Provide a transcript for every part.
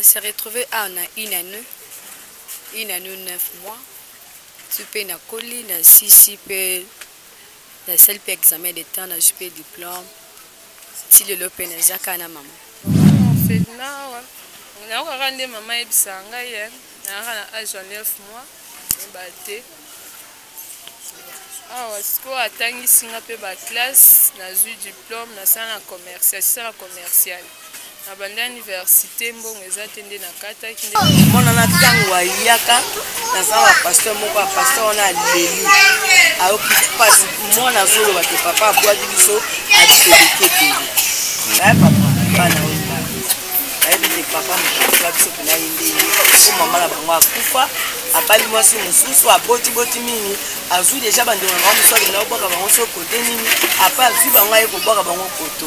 se retrouver à na une année une année neuf mois ti mpe nakoli nasisi mpe nasali mpe examen de temps nazwi mpe diplome ti lelo pe naza kaka na mama felina awa nayokaka nde mama ayebisaka ngai ye nayaka na age ya 9 mois ba te awa sikoyo atangisi nga mpe baklasse nazwi diplome nasala na commercial sisala commerciale nabandi aniversite mbongo eza te nde nakataki mona na ntango ayaka naza na pasteur moko ya pasteur wana aleli ayoki mpasi mwana azoloba te papa abwaki biso abisobeke pele naye papa bana oyo nayebi te papa mokakula biso pena ye ndenge po mama na bango akufa abali mwasi mosusu abotiboti mingi azwi deja bandeko na bango mosusu akenda kobwaka bango so kote nini apa azwi bango aye kobwaka bango koto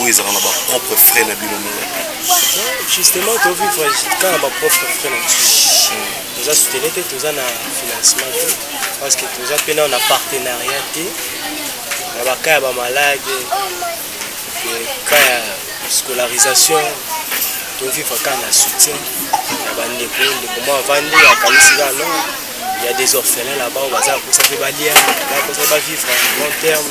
oyo ezalaka na bapropre frais na bino moko justement tovivre kaka na bapropre frais na biso toza soutene te toza na financement te parce que toza mpe nao na partenariat te na baka ya bamalade ka ya scolarisation tovivre kaka na soutien ya bandeko ndeko mwa avandi akanisi kaka no ya des orphelins là-bas oyo baza kokosa mpe balia bakosa bavivre long terme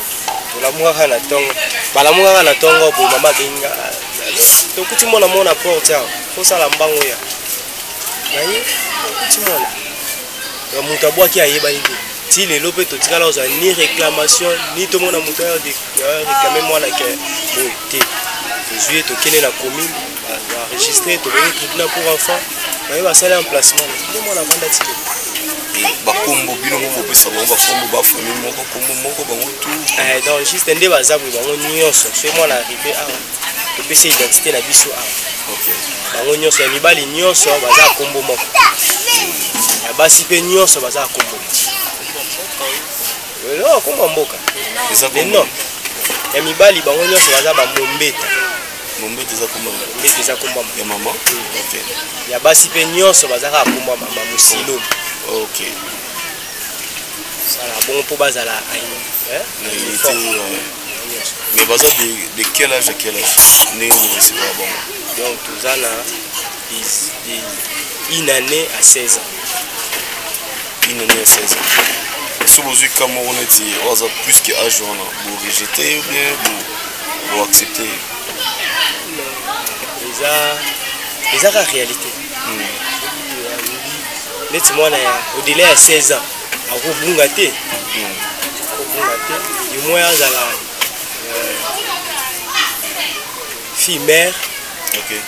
olamukaka na ntongo balamukaka na ntongo boye mama abenga tokuti mwana mwana porte awa kosala mbango ya naye tokuti mwana ya moto abwaki ayebani te ti lelo mpe totikala kozwa ni réclamation ni tomona moto ya réclame mwana ke boye te tozwi ye tokende na commune enregistré tokoki tribunal pour enfant baye basali emplacement nde mwana avanda ti eh, bakombo bino moko bopesa bango bakombo bafami moko kombo moko bango tu eh, donc juste nde baza boye bango nyonso soki mwana arrive awa ah, topesi identité na biso awa ah. bango nyonso ya mibali nyonso baza kombo moko ya basi mpe nyonso baza kombo eloko kombo mboka non ya mibali bango nyonso baza bamombeta mombete eza kombo mombete eza kombo ya mama okay. ya basi mpe nyonso baza kaka kombo ya mama mosilo okay. sala bongo mpo bazala eh? mais baza de, de quel âge à quel âge ndenge borecevra bango donc toza na une année à 16 ans bino nyonso eza soki bozwi ka moko neti oyo aza plus ke age wana borejete ye bien boaccepte ye eza eza ka réalité hmm. neti mwana ya au-delà ya 16 ans akobunga te hmm. akobunga te du moins azala euh, fille mère okay.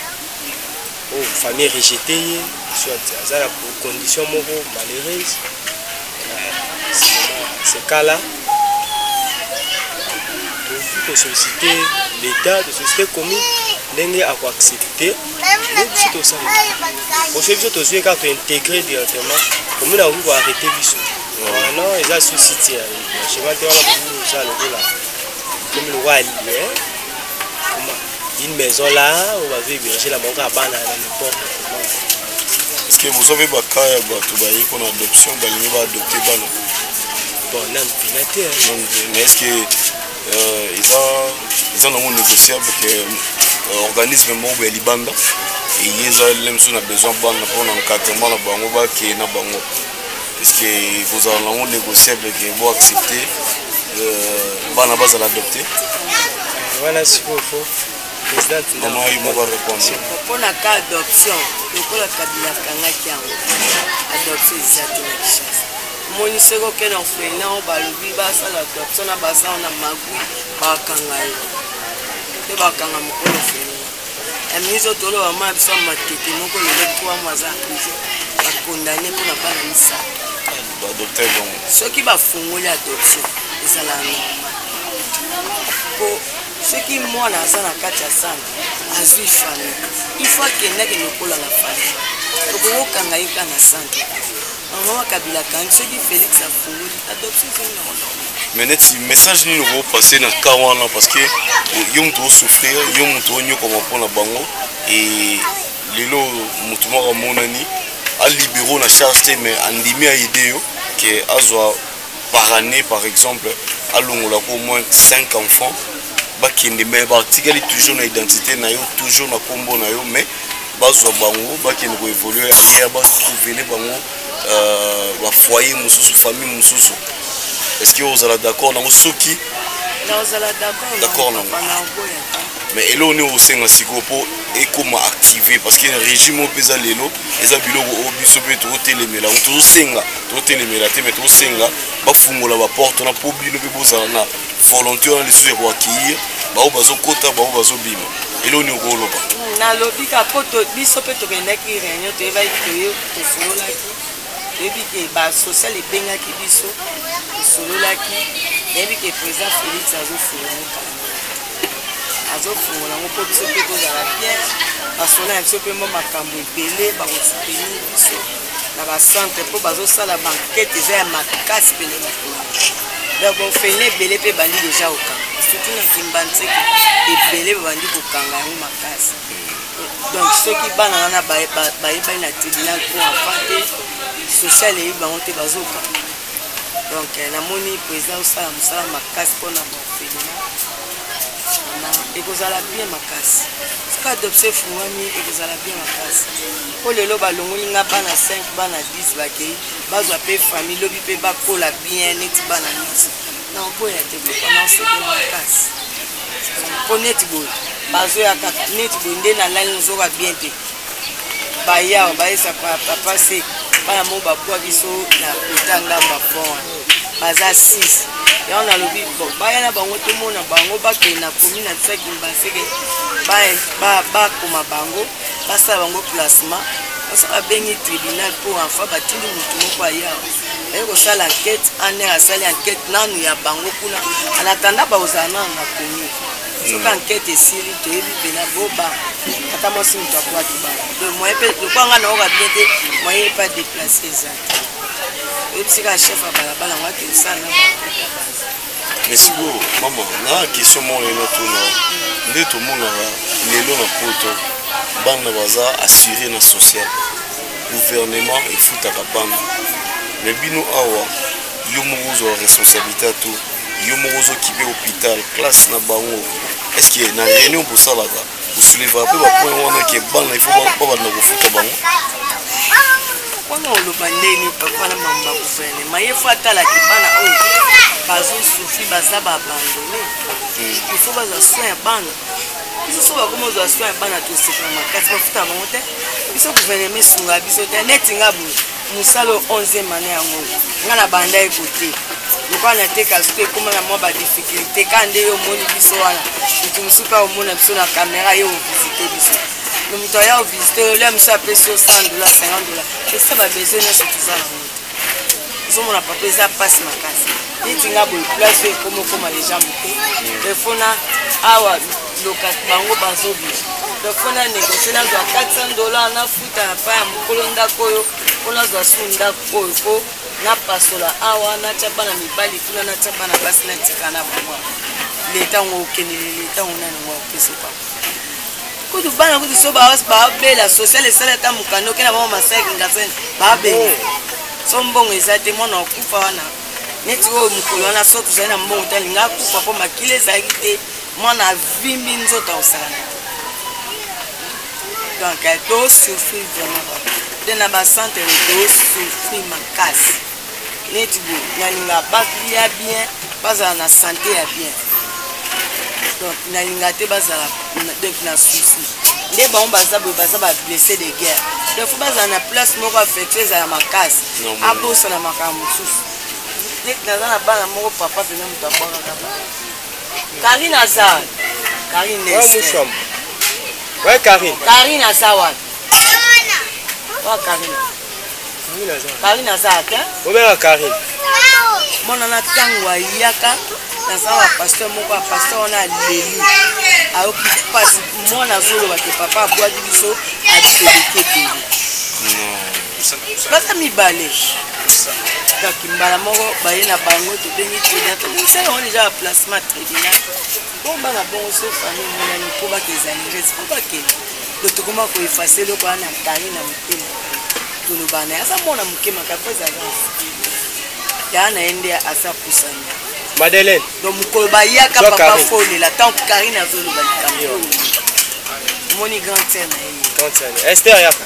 oh, famille rejete ye soit aza na condition moko malheureuse sekala tokoki kosollicite l'état tosollicite commune ndenge akoaccepte neti tosala osoi biso tozwi kaka tointegre directement commune akoki koarrete biso wana eza su site ya chemin te wana bokoki kozala lokola komi lokola liye une maison là oyo bazoeberge na bango kaka bana na n'importe comment parce que boza mpe baka ya bato bayei mpona adoption balingi baadopte bana bon nanu mpena te mais est ce que euh, eza eza nango négociable ke euh, organisme moko ya libanda eye eza lele mosusu na besoin bana mpona encadrement na bango bakeye na bango puisque ekozala nango négociable ke bo accepte euh, bana bazala adopte wana sikoyo fo mama ye moko arépondre mpona ka adoption lokola kabila akangaki yango adoption eza te na kishasa omoni soki okende orphelina o balobi basala adoption na basala na magui bakanga ye mpe bakanga mokolo orphelina amizo tolo mama ya biso ya matete moko lelo trois mois aza prison bakondane mpo na bana misato soki bafongoli adoption ezalaka normal mpo soki mwana aza na kati ya sanda azwi famille ifo akendaki lokola na famille tokokokanga ye ka na sanda Maman Kabila akangi soki Felix afungoli adoption ezongi nango normal. mais neti message nini okoki passe na cas wana parce que eh, yo moto osouffrir yo moto onyokwama mpo na bango e lelo moto moko amonani alibero na charge te mais andimi aide yo ke azwa par année par exemple alongola ko au moins 5 enfants bakende mais batikali toujours na identité na yo toujours na nkombo na yo mais bazwa bango bakende ko évoluer ailleurs batrouvele bango euh, bafoyer mosusu famille mosusu est ce que ozala d'accord nango soki d'accord nango mais eloko nini okosenga sikoyo mpo ekoma active parce que régime oyo mpenza lelo eza biloko oyo biso mpe tokotelemela yango tozosenga tokotelemela te mais tokosenga bafungola baporte na mpo bino mpe bozala na volonté wana lisusu ya koakeir baoyo bazokota baoyo bazobima eloo nini okoloba nalobi ka mpo biso mpe tokendaki réunion toyebaki toye tosololaki toyebi ke basocial ebengaki biso tosololaki nayebi ke président félix azofungola ngo kala azofungola ngo mpo biso mpe tozala bien basolo na biso mpe mwa makambo ebele bakosoutenir biso na bacentre mpo bazosala bankete eza ya makasi pene na kuna donc bofeine ebele mpe ebandi deja kokanga surtout na kimbanseke ebele babandi kokanga yango makasi donc soki bana wana bayebani na tribunal mpo afa te social eyebi bango te bazokanga donc eh, namoni président osala mosala makasi mpo na bafelina ekozala bien makasi soki adoption efungwami ekozala bien makasi mpo lelo balongoli nga bana 5 bana 10 bakei bazwa mpe famille lobi mpe bakola bien neti bana nyonso na oboya te kopanasoko makasi mpo neti boye bazoya kaka neti boye nde nalali nozoka bien te bayawa bayesa papa se bana mo babwa biso na kota ngamba fon wana baza 6 yango nalobi bon baya na bango tomona bango bakende na komi na biso ya kimbaseke bakoma bango basala bango placement oso babengi tribunal mpo enfa batindi motu moko aya aye kosala enquete aner asali enquete nanu ya bango kuna anatanda bakozala nanu na komi soki enquete hmm. esili toyebi mpena boba ata mwasi moto akwaki bana donc moye mpe lokwa ngai naoka bien te moye epa deplace eza oyebisika chef ya balabala ngo akendisana na mais sikoyo mama na question moko naye natuna nde tomonaka lelo na poto bana baza assure na social gouvernement efutaka bana me bino awa yo moko ozwa responsabilité ya to yo moko ozokipe hôpital classe na bango estce na réunion bosalaka kosilivaka mpe bapoint wana ke bana ifo babanda kofuta bango wana oloba ndeni papa na mama ba guvernema ye fo atalaki bana oyo bazosufri baza baabandone hmm. ifo bazwa soin ya bana biso so bakoma ozwa soin ya bana tosepela makasi bafuta bango te biso guvernema esungaa biso te neti nga boye mosala oyo onzième année yango nga na banda ye kote lokola nateka soki ekoma na mwa badifficulté kaka nde yo omoni biso wana moto mosusu mpe omona biso na kamera ye ovisite biso no moto aya ovisite yo lia mosusu apesi yo 100 dola 50 dola esa babesoin nyonso toza na moto ozomona papa eza mpasi makasi neti nga boye place oyo ekoma okoma deja moke efona awa loka bango bazobisa efona negocie nazwa 400 dola na na epai ya mokolo ndako oyo mpo nazwa su ndako oyo mpo napasola awa natya bana mibali kuna natya bana basi natika na bango leta yango okeneli leta yango nani yango apesoka kutu bana kutu so babela social esala ata mokanda okenda bango masaki ngasani babela so mbongo eza te mwana okufa wana neti oyo mokolo wana so tozali na mbongo te alinga akufa mpo makila ezalaki te mwana avimbi nzoto akosalana donc eh, to souffrir vraiment te na bacentre to souffrir makasi neti bo nalinga balia bien bazala na sante ya bien donc nalinga te bazala donc na souci nde bango baza boye baza bablesse de guerre donc fo bazala na place moko affectue ezala makasi abosana makambo mosusu neti naza na bana moko papa pena moto abwakaka bana Karine aza Karine Nese. Ouais, Karine. Karine aza wapi? Wa Karine. Karine aza. Karine aza ata. Obela Karine. Mwana na tango ayaka naza wa pasteur moko ya pasteur wana aleli ayoki mpasi mwana azoloba te papa abwaki biso abiteleketeli baza mibale donc mbala moko baye na bango tobengi tribunal tobongisa yango deja ya placement tribunal bomba na bongo so famille emonani mpo bakezali rese mpo bakende do tokoma koefase eloko wana na tali na motema toloba na ye aza mwana moke makambo ezali yaa na ye nde aza pusani madeleine donc mokolo bayaka papa folela ntango karine azoloba likambo omoni grand sere na ye esther yaka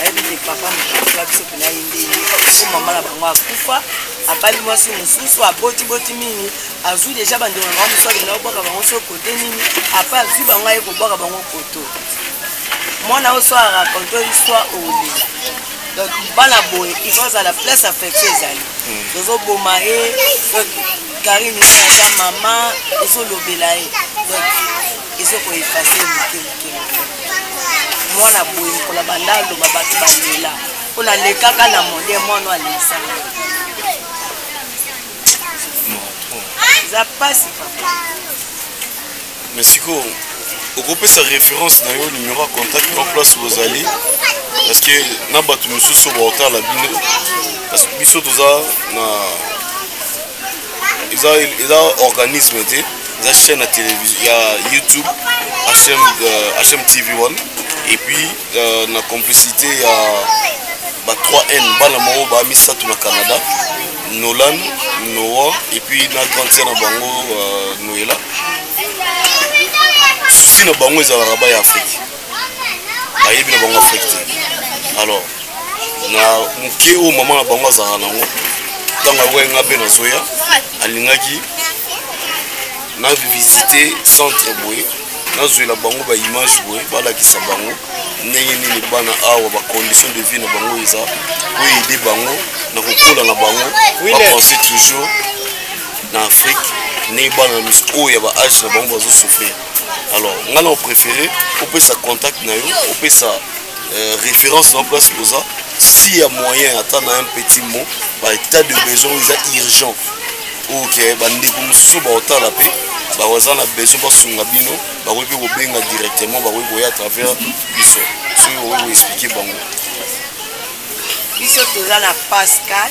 ayebi te papa mokonzi wa biso mpena ye nde ye po mama na bango akufa abali mwasi mosusu aboti boti mingi azwi deja bandeko na bango mosusu akenda kobwaka bango so kote nini apa azwi bango aye kobwaka bango koto mwana oyo so arakonte histoire olela donc bana boye il faut azala place affection ezali hmm. tozoboma ye donc karine aza mama ezolobela ye donc ezo ko efase moke moke moke mwana boye mokolo banda aloba bato balela mpo nalekaka na monde mwana alekisa eza mpasi papa mais sikoyo okopesa référence na yo numéro ya contact en place bozali parce que na bato mosusu baotala bino parce que biso toza na eza eza organisme te eza chaîne ya télévision ya youtube hm, euh, hm tv 1 et puis euh, na complicité ya ba 3 n bana moko ba misato na canada nolan noa et puis na grande sœur na bango euh, noela souci na bango ezalaka ba ya afrique bayebi na bango afrique te alors na moke oyo mama na bango azalaka nango ntango akoki nga mpe nazoya alingaki na visite centre boye nazwela bango baimage boye balakisa bango ndenge nini bana awa bacondition de vie na bango eza oyo ede bango na kokola na bango bapense toujours na afrique ndenge bana na misu oyo ya baage na bango bazosouffrir alors ngai na opréféré opesa contact na yo opesa euh, référence na place oza si ya moyen ata na un petit mot ba état de besoin oyo eza urgent ok bandeko mosusu baotala mpe baza na besoin basunga bino bakoki mpe kobenga directement bakoki koya à travers biso soki okoki koexplike bango biso toza na pascal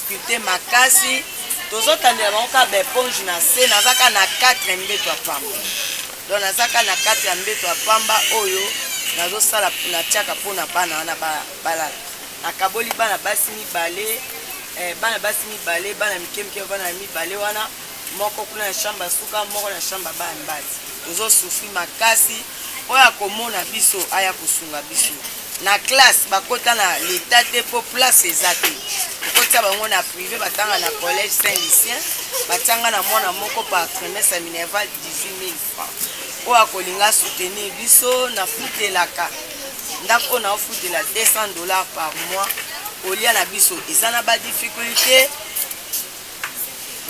difficulté makasi tozotandela bango kaka baeponge na se naza kaka na 4 mbeto ya pamba don naza kaka na kati ya mbeto ya pamba oyo nazosala natiaka mpo na bana wana balala nakaboli bana basi mibale eh, bana basi mibale bana mike mike bana ya mibale wana moko kuna na shamba suka moko na shamba bana mibali tozosufri makasi oyo akomona biso aya kosunga biso na classe bakota na leta te mpo place eza te okotisa bango na privé batanga na collège saint lucien batianga na mwana moko par trimestre ya minerval 18 000 francs oyo akolinga soutenir biso nafutelaka ndako oyo naofutela 200 dollars par mois olia na biso eza na badifficulté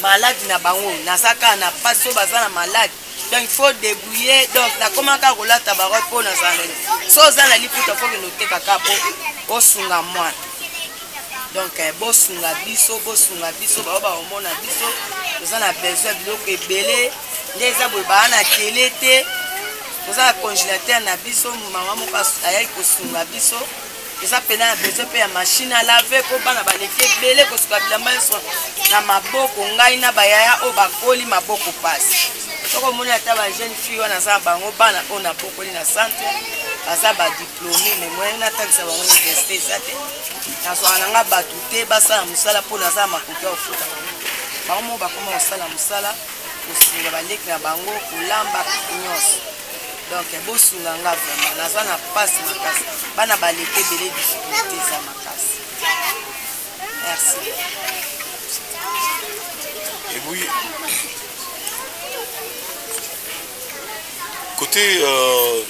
malade na bango naza kaka na mpasi oyo baza na malade donc faut débrouiller donc nakoma kaka kolata barobe mpo nazala na so oza na liputa fo kende oteka kaka mpo osunga mwana donc eh, bosunga biso bosunga biso bao bakomona biso toza na besoin biloko ebele nde eza boye baa na tele te toza na congélateur na biso mama moko ayaki kosunga biso eza mpena ya besoin mpe ya mashine alave mpo bana baleki ebele kosuka bilamba nyonso na maboko ngai na bayaya oyo bakoli maboko mpasi soko omoni ata bajeune fille wana aza na bango bana oyo nabokoli na centre baza badiplome me moyen natangisa bango université eza te nazwaka na ngai bato te basala mosala mpo naza na makoki ya kofuta bango bango moko bakoma kosala mosala kosunga baleki na bango kolamba nyonso donc bosunga nga vraiment naza na mpasi makasi bana baleki ebele difficulté eza makasi merci ebuyi côté euh,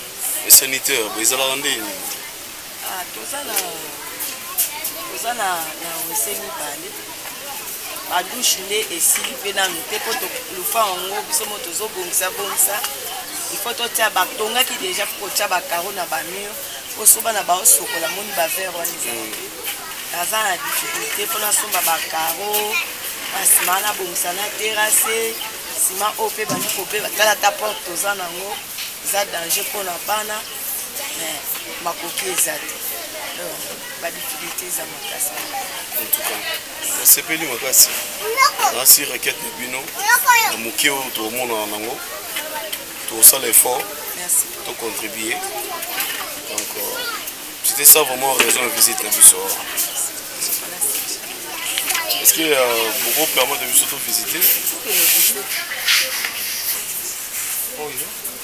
sanitaire ezalaka ndenge nini Ah, toza na toza na na wese mibale badushe nde esili mpe nanu te mpo lufa yango biso mo tozobongisa bongisa ifo totya batongaki deja mpo kotya bacaro na bamur mpo soba na baosokola moni bavere wana eza mm. naza na difficulté mpo nasomba bacaro basima na bongisa na terase sima oyo mpe bandi kobe batala ata porte toza nango eza danger mpo na bana makoki eza te badifficulté eza makasi entuka nasepeli makasi nasi requete na bino na moke oyo tokomonana nango tokosala effort tocontribue donc euh, c'était ça vraiment raison ya visite na biso est-ce que euh, boko permettre biso tovisite oyo oh,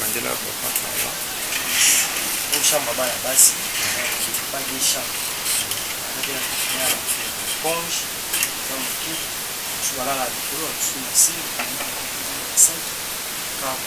Mandela papa awa oshamba bana basi kipaki shamba akatela kifina ya ponge ya moke mosusu balala likolo ya mosusu na se basatu kabo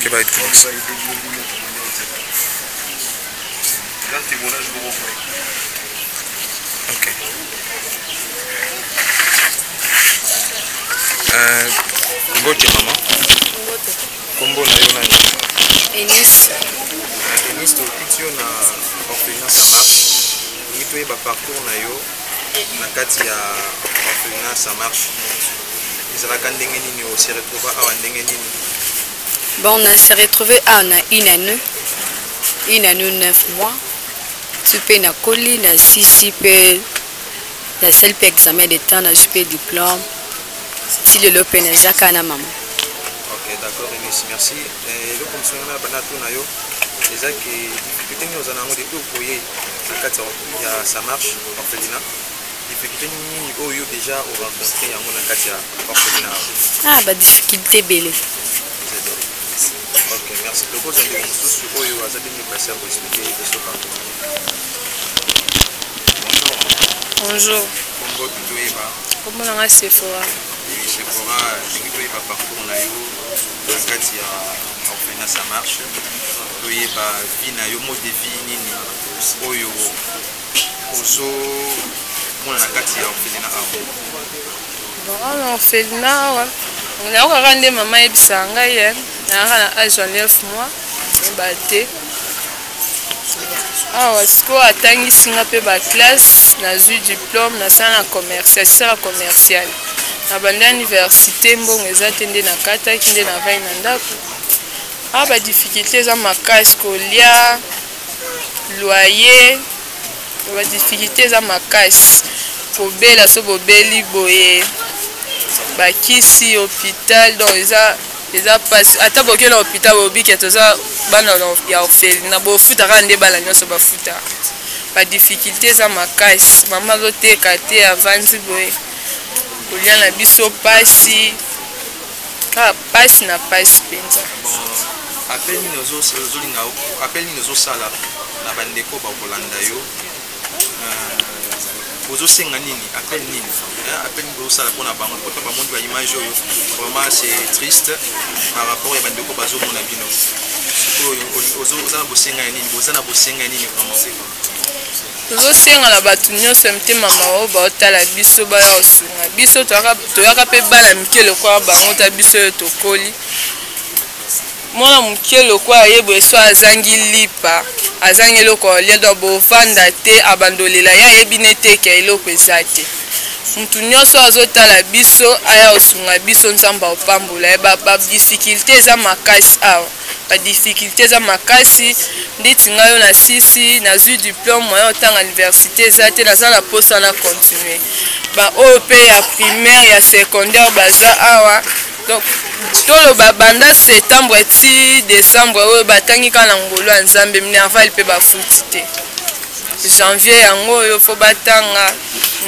que vai ter. Ok. Euh, Ngoche maman. Ngoche. Kombo na yo nani? Eunice. Eunice, tokuti yo na orphelinat Samar. Olingi toyeba parcours na yo na kati ya orphelinat ça marche ezalaka ndenge nini ose retrouva awa ndenge nini bon on s'est retrouvé awa na une année une année neuf mois ti mpe nakoli na sisi mpe nasali mpe examen de temps nazwi mpe diplôme ti lelo mpe naza kaka na mama ok d'accord enis merci eh, eloko mosunga na bana to na yo eza ke difficulté nini oza na yango depuis okoye na kati ya ya ça marche orphelina difficulté nini oyo oh, déjà o rencontre yango na kati ya orphelina ah ba difficulté ebele ok merci tokozwa ndeko mosusu oyo oh, azali mipasi ya koexplike biso bango bonjour kombo toyeba kombo na ngai sephora sephora ndenge toyeba parcours na yo na kati ya orphelina ça marche toyeba vie na yo mode de vie nini oyo ozo mona na kati ya orphelina awa vraiment na orphelina awa nayokaka nde mama ayebisaka ngai ye nayaka na age ya 9 mois ba te awa sikoyo atangisi nga mpe baklasse nazwi diplome nasala na commercial sisala commercial na banda université mbongo eza te nde nakataki nde navai na ndako awa badifficulté eza makasi kolia loyer ba difficulté eza makasi kobela so bobeli boye bakisi hôpital donc eza eza mpasi ata boke na hôpital bobike toza bana ya orphelina bofutaka nde bana nyonso bafutaka badifficulté eza makasi mama azoteka te avandi boye kolia na biso mpasi ah pasi na pasi mpenza apel nini ozolinga apel nini ozosala na bandeko bakolanda yo euh, ozosenga nini apel nini apel nini ozosala mpona bango poto bamoni baimage oyo vraiment c'est triste par rapport ya bandeko bazomona bino sikoyo oza na bosenga ya nini boza na bosenga ya nini vraiment tozosenga na bato nyonso ya mitema mawa baotala biso baya kosunga biso toyaka mpe bana mike lokola bango ta biso oyo tokoli mwana moke lokola ye boye so azangi lipa azangi eloko alia donc bovanda te abandolela ye ayebi neteke eloko eza te motu nyonso azotala biso aya kosunga biso nzambe apambola ye badifficulte eza makasi awa ba difficulté eza makasi ndeti ngai oyo nasisi nazwi diplome moyen otanga université eza te naza na mposa na continue baoyo mpe ya primaire ya secondaire baza awa donc toloba banda septembre ti décembre oyo batangi kaka na ngolo ya nzambe minerval mpe bafuti te janvier yango oyo mpo batanga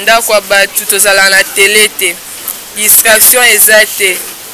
ndako ya bato tozala na tele te distraction eza te